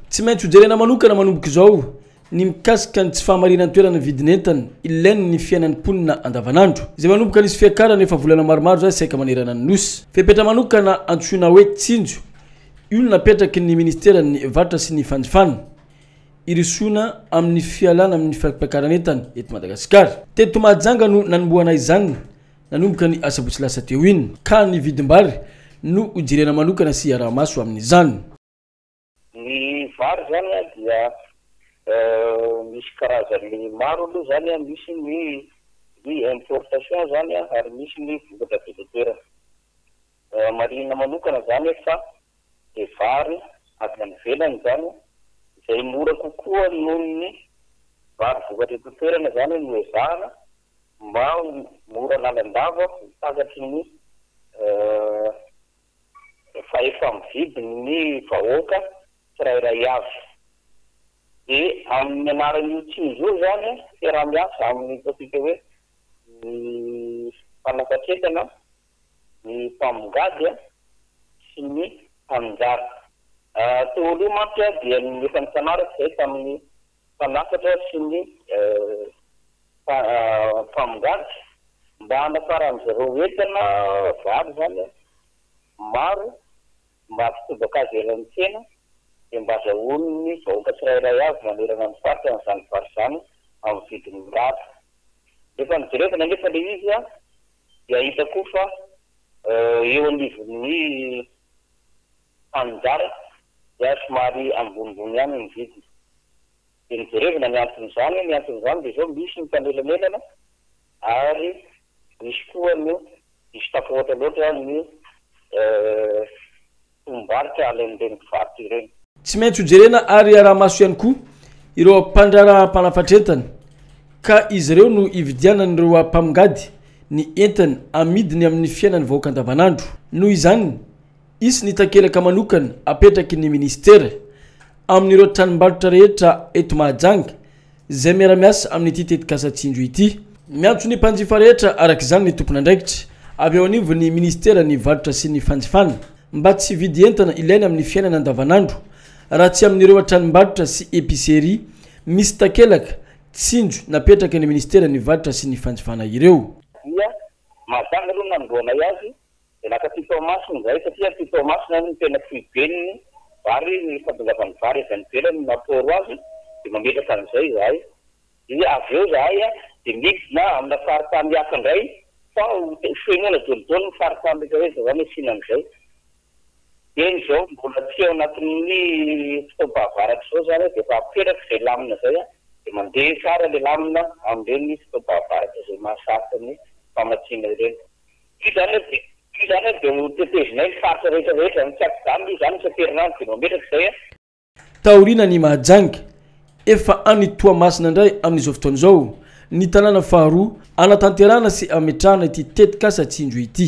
Tsy maintsy hojerena manokana manomboka izao ny mikasika ny tsy fahamarinan-toeran'ny vidin'entana ilainy ny fiainan'ny mponina andavanandro, izay manomboka nisy fiakarana efa volana maromaro izay saika manerana ny Nosy. Fepetra manokana antsoina hoe Tsinjo io no napetraky ny Ministeran'ny Varotra sy ny Fanjifana, Hirosoana amin'ny fialana amin'ny fampakaran'entana eto Madagasikara. Teto Mahajanga no nanombohana izany nanomboka ny asabotsy lasa teo iny, ka ny vidim-bary no hojerena manokana sy hiaraha-maso amin'izany. Ny vary izany an dia misy karazany maro aloha izany an, misy ny ny importation izany an ary misy ny vokatra eto an-toerana. Marihina manokana izany eto fa ny vary avy any ivelany izany izay mora kokoa noho ny vary vokatra eto an-toerana izany no ezahana mba ho mora lalandava ho takatry ny rehefa efa mividy ny vahoaka tsirairay avy. Dia amin'ny anaran'io tsindry io izany, fiaraha-miasa amin'ny ataontsika hoe ny mpanakatretana, ny mpamongady sy ny mpaninjara. Teo aloha mantsy dia efa nifanaraka izay tamin'ny mpanafatra sy ny mpamongatra mba hanafaran'izy ireo entana vary izany maro mba hampitobaka azy eny amin'ny tsena dia mba azahoan'ny vahoaka tsirairay avy manerana ny faritra an'izany vary izany amin'ny vidiny mirary. Rehefa nojerevana anefa ilay izy dia hita koa fa eo anivon'ny. Fanjary dia somary ambonimbony ihany ny vidiny. Dia nijerevina ny anton'izany, ny anton'izany dia izao, misy ny mpanelanelana ary misy koa no diso tafahoatra loatra ny tombom-barotra alain'ireny mpivarotra ireny. Tsy maintsy hojerena ary iaraha-maso ihany koa ireo mpandraharaha mpanafatr'entana ka izy ireo no ividianan'ireo mpamongady ny entana amidiny amin'ny fiainan'ny vahoaka andavanandro. Noho izany Hisy ny takelaka manokana apetraky ny minisitera amin'ireo tranombarotra rehetra eto Mahajanga izay miara-miasa amin'ity tetikasa Tsinjo ity. Miantso ny mpanjifa rehetra araka izany ny tompon'andraikitra avy eo anivon'ny minisiteran'ny varotra sy ny fanjifana mba tsy hividy entana ilaina amin'ny fiainana andavanandro raha tsy amin'ireo tranombarotra sy epicerie misy takelaka Tsinjo napetraky ny minisiteran'ny varotra sy ny fanjifana ireo. Dia mazava aloha ny nanombohanay azy. Dia lasa aty Toamasina izahay satria aty Toamasina no tena foiben'ny vary, ny fantongavan'ny vary avy any ivelany no mampihoro azy, dia mametraka an'izay izahay. Dia avy eo izahay dia midina amina faritany hafa indray fa ho fenoina daholodaolo ny faritany rehetra rehetra izany asiana an'izay. Dieny izao mbola tsy ao anatin'ny fotoam-pahavaratra izao izany dia efa apetraka izay lamina izay, dia mandeha tsara ilay lamina amin'ireny fotoam-pahavaratra izay mahasarika ny famatsiana ireny. Io zany aloha dia, io zany aloha dia ho tetezinay ny faritra rehetra rehetra ny tsy ampijano aloha zany isan-kerinandro dia mametraka izay a. Taoriana an'i Mahajanga, efa any Toamasina indray amin'izao fotoana izao ny tanàna faharoa hanatanterahana sy hametrahana ity tetikasa Tsinjo ity.